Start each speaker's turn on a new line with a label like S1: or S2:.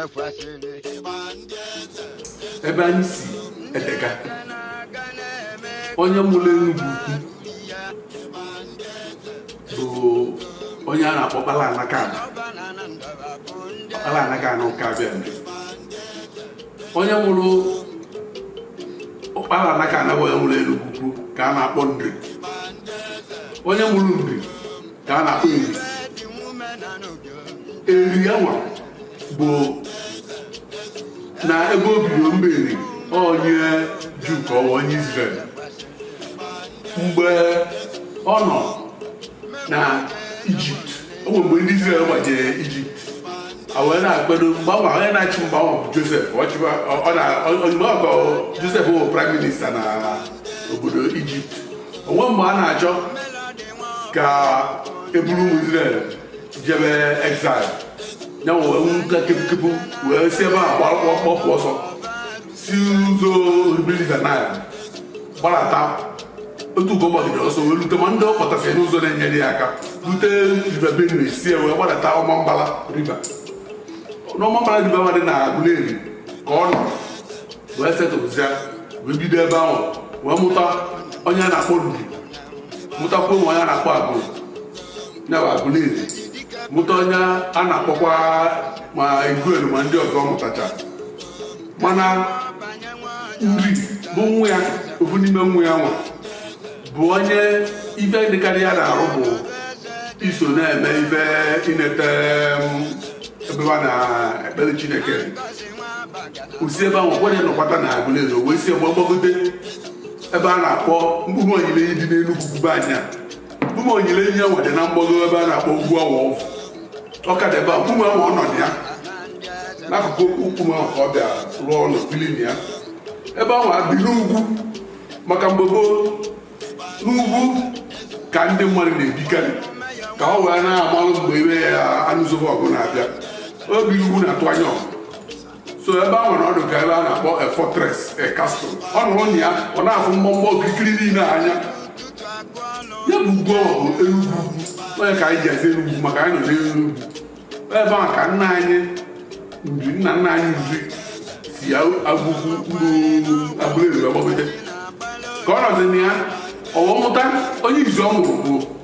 S1: kwesịrị ebe anyị si edega onye mụrụ Enugwu ukwu bụ onye a na-akpọ Ọkpala Nakana Ọkpala Nakana Ụkabịa Nri onye mụrụ Ọkpala Nakana bụ onye mụrụ Enugwu ukwu ka a na-akpọ Nri onye mụrụ Nri ka a na-akpọ Eri Eri anwa bụ na ebe o bido Eri onye Juu ka ọ bụ onye Izrel mgbe ọ nọ na Ijipt o nwere mgbe ndị Izrel gbajere Ijipt a wee na-akwado mgbe ahụ onye na-achị mgbe ahụ bụ Josef ọ chịwa ọ na ozugbo ọ bụ Josef bụ praịm minista na obodo Ijipt o nwee mgbe a na-achọ ka e buru ụmụ Izrel jebe exile ya wee nka kepukepu wee si ebe a gbapụ ọsọ si ụzọ River Nile gbarata otu ọ gbagidere ọsọ wee rute ma ndị ọ kpọtasị n'ụzọ na-enyere ya aka rute River Benue si wee gbarata Ọmambala riva n'Ọmambala riva ma dị na Aguleri ka ọ nọ wee setụlụzịa wee bido ebe ahụ wee mụta onye a na-akpọ Nri mụtakwuo onye a na-akpọ Agụlụ nya bụ Aguleri mụta onye a na-akpọkwa ma Iguedo ma ndị ọzọ mụtacha mana nri bụ nwa ya ofu n'ime nwa ya nwa bụ onye ife dịkarị ya n'arụ bụ iso na-eme ife inete um, ebe a na-ekpere Chineke o si ebe ahụ ọkwanye nọkwata na Aguleri o wee si ebe ahụ gbagote ebe a na-akpọ Mkpume Onyilenyi dị n'Enugwu ukwu ebe anwa Mkpume Onyilenyi anwa dị na mgbago ebe a na-akpọ Ugwu Awọ ọ ka dị ebe a mkpume ahụ ọ nọ na ya n'akụkụ mkpume ahụ ka ọ bịa rụọ ụlọ bili na ya ebe ahụ o bi n'ugwu maka mgbe gboo n'ugwu ka ndị mmadụ na-ebikarị ka ọ wee na-amalụ mgbe ibe ya anụsoba ọgụ na-abịa o bi n'ugwu na-atụ anya ọgụ so ebe anwa ọ dị ka ebe a na-akpọ a fortress a castle ọ nọrọ na ya ọ na-afụ mgbọmgbọ okirikiri niile anya ya bụ ugwu ọ bụ elu ugwu ọ nya ka anyị ji aza Enugwu maka anyị nọ n'elu ugwu ebe a ka nna anyị Nri nna nna anyị Nri si Agụukwu mkpụrụ Aguleri gbagote ka ọ nọzi na ya o wee mụta onye izizi ọ mụrụ bụ